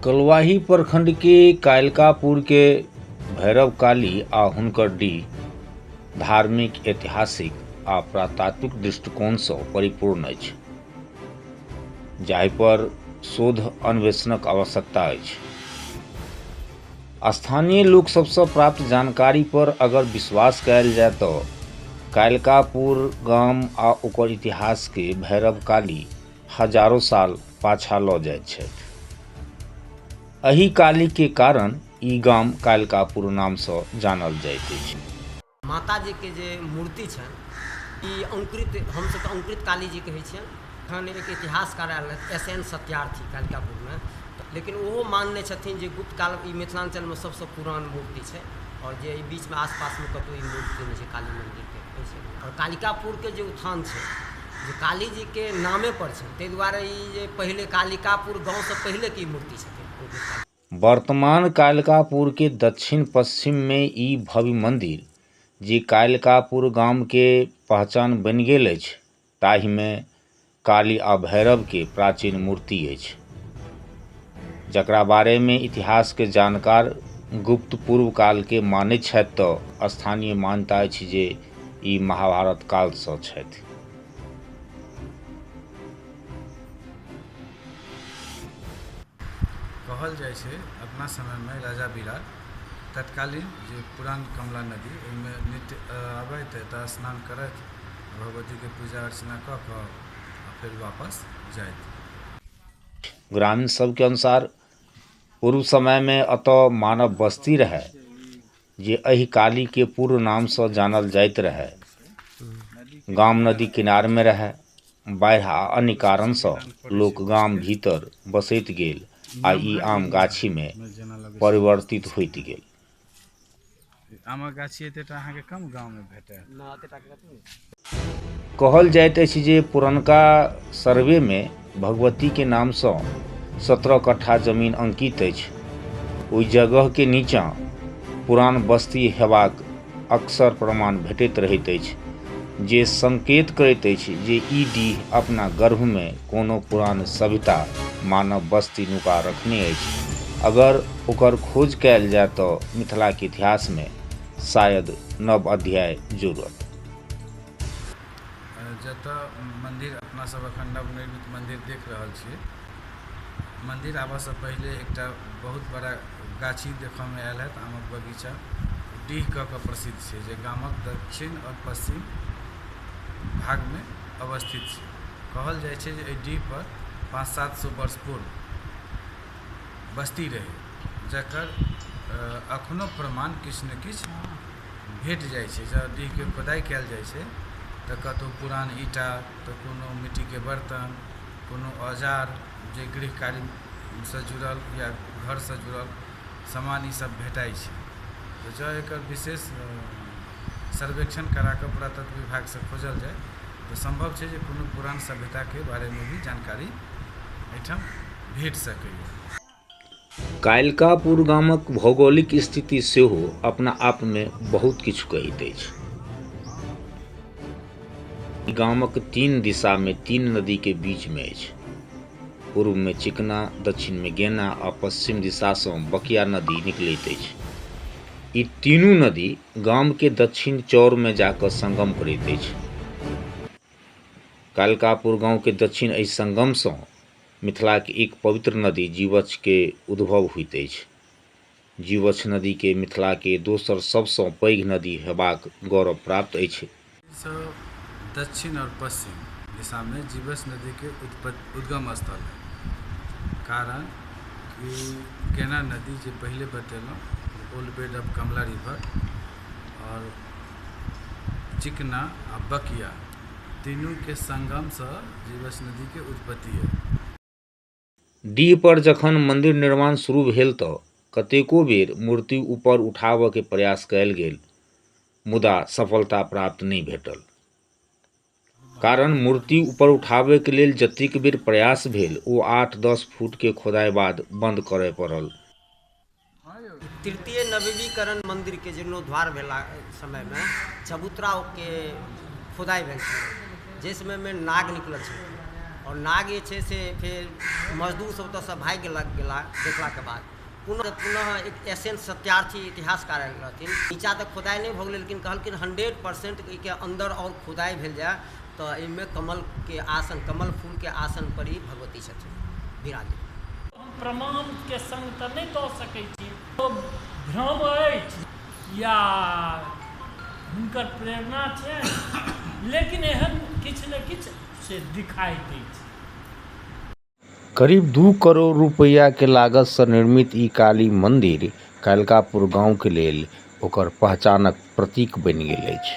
कलवाही प्रखंड के कायलकापुर के भैरव काली आ हुनकर डी धार्मिक ऐतिहासिक आ प्रातात्विक दृष्टिकोणसँ परिपूर्ण अछि जाहिपर शोध अन्वेषणक आवश्यकता अछि स्थानीय लोक सबसँ प्राप्त जानकारी पर अगर विश्वास कयल जाय तऽ कायलकापुर गाम आ ओकर इतिहास के भैरव काली हजारो साल पाछा लऽ जाइत छथि एहि कालीके कारण ई गाम कालिकापुर नामसँ जानल जाइत अछि माताजीके जे मूर्ति छनि ई अंकुरित हमसभ तऽ अंकुरित कालीजी कहै छियनि तहन एक इतिहासकार आयल रहथि एस एन सत्यार्थी कालिकापुरमे लेकिन ओहो मानने छथिन जे गुप्त काल ई मिथिलाञ्चलमे सभसँ पुरान मूर्ति छै आओर जे एहि बीचमे आसपासमे कतहु ई मूर्ति नहि छै काली मन्दिरके आओर कालिकापुरके जे उत्थान छै जे काली जीके नामे पर छै ताहि दुआरे ई जे पहिले कालिकापुर गाँवसँ पहिले के ई मूर्ति छथिन ओ जे काली वर्तमान कालिकापुर के दक्षिण पश्चिम में ई भव्य मंदिर जे कालिकापुर गाम के पहचान बनि गेल अछि ताहि में काली आ भैरव के प्राचीन मूर्ति अछि जकरा बारे में इतिहास के जानकार गुप्त पूर्व काल के मानैत छथि तऽ स्थानीय मान्यता अछि जे ई महाभारत कालसँ छथि कहल जाइ छै अपना समयमे राजा बिराट तत्कालीन जे पुरान कमला नदी ओहिमे नित्य अबैत एतऽ स्नान करैत भगवतीके पूजा अर्चना कऽ कऽ आ फेर वापस जाइत ग्रामीण सबके अनुसार पूर्व समयमे एतऽ मानव बस्ती रहै जे एहि काली के पूर्व नाम सँ जानल जाइत रहय। गाम नदी किनार मे रहय। बाढ़ि आ अन्य कारण सँ लोक गाम भीतर बसैत गेल आ ई आम गाछी मे परिवर्तित होइत गेल। आमक गाछी एतेटा अहाँके कम गाम मे भेटय। कहल जाइत अछि जे पुरनका सर्वेमे भगवतीके नामसँ सत्रह कट्ठा जमीन अंकित अछि ओहि जगहके नीचाँ पुरान बस्ती हेबाक अक्सर प्रमाण भेटैत रहैत अछि जे संकेत करैत अछि जे ई डीह अपना गर्भमे कोनो पुरान सभ्यता मानव बस्ती नुका रखने अछि अगर ओकर खोज कयल जाय तऽ मिथिलाके इतिहासमे शायद नव अध्याय जुड़त जतऽ मन्दिर अपना सब एखन नवनिर्मित मन्दिर देख रहल छी मन्दिर आबऽसँ पहिले एकटा बहुत बड़ा गाछी देखऽमे आएल होयत आमक बगीचा डीह कऽ कऽ प्रसिद्ध छै जे गामक दक्षिण आओर पश्चिम भागमे अवस्थित छै कहल जाइ छै जे एहि डीह पर पाँच सात सए वर्ष पूर्व बस्ती रहै जकर एखनो प्रमाण किछु ने किछु भेट जाइ छै जँ डीहके खोदाइ कएल जाइ छै तऽ कतहु पुरान ईटा तऽ कोनो मिट्टीके बर्तन कोनो औजार जे गृहकार्यसँ जुड़ल या घरसँ जुड़ल सामान ईसब भेटाइ छै तऽ जँ एकर विशेष सर्वेक्षण कराकऽ पुरातत्व विभागसँ खोजल जाइ तऽ सम्भव छै जे कोनो पुरान सभ्यताके बारेमे भी जानकारी एहिठाम भेट सकैए कालिकापुर गामक भौगोलिक स्थिति सेहो अपना आपमे बहुत किछु कहैत अछि गामक तीन दिशामे तीन नदीके बीचमे अछि पूर्वमे चिकना दक्षिणमे गेना आ पश्चिम दिशासँ बकिया नदी निकलैत अछि ई तीनू नदी गामके दक्षिण चौरमे जाकऽ संगम करैत अछि कालकापुर गाँवके दक्षिण एहि संगमसँ मिथिलाक एक पवित्र नदी जीवछ के उद्भव होइत अछि। जीवछ नदी के मिथिला के दोसर सब सँ पैघ नदी हेबाक गौरव प्राप्त अछि। एहि सँ दक्षिण और पश्चिम दिशा में जीवछ नदी के उत्पत्ति, उद्गम स्थल अछि। कारण कि केना नदी जे पहिले बतेलहुँ जे old bed of Kamla river और चिकना आ बकिया। तीनू के संगम स जीवछ नदी के उत्पत्ति ऐ। डीह पर जखन मंदिर निर्माण शुरू भेल त कतेको बेर मूर्ति ऊपर उठाबय के प्रयास कयल गेल मुदा सफलता प्राप्त नहि भेटल। कारण मूर्ति ऊपर उठाबय के लेल जतेक बेर प्रयास भेल ओ आठ-दस फुट के खोदाय बाद बंद करय पड़ल। तृतीय नवीनीकरण मन्दिरके जीर्णोद्वार भेला समयमे चबूतराके खुदाइ भेल छलै जाहि समयमे नाग निकलल छलै आओर नाग जे छै से फेर मजदूरसभ ओतयसँ भागि गेला गेला देखलाके बाद पुनः पुनः एक एस एन सत्यार्थी इतिहासकार आयल रहथिन नीचाँ तऽ खुदाइ नहि भऽ गेलै लेकिन कहलखिन हंड्रेड परसेंट एहिके अन्दर आओर खुदाइ भेल जाय तऽ एहिमे कमलके आसन कमल फूलके आसनपर ई भगवती छथिन विराजमान प्रमाण के संग तऽ नहि दऽ सकैत छी। ओ भ्रम अछि या हुनकर प्रेरणा छैन लेकिन एहन किछु ने किछु से दिखाई दैत छै। करीब दू करोड़ रुपैया के लागत सं निर्मित ई काली मंदिर कालिकापुर गांव के लेल ओकर पहचानक प्रतीक बनि गेल अछि।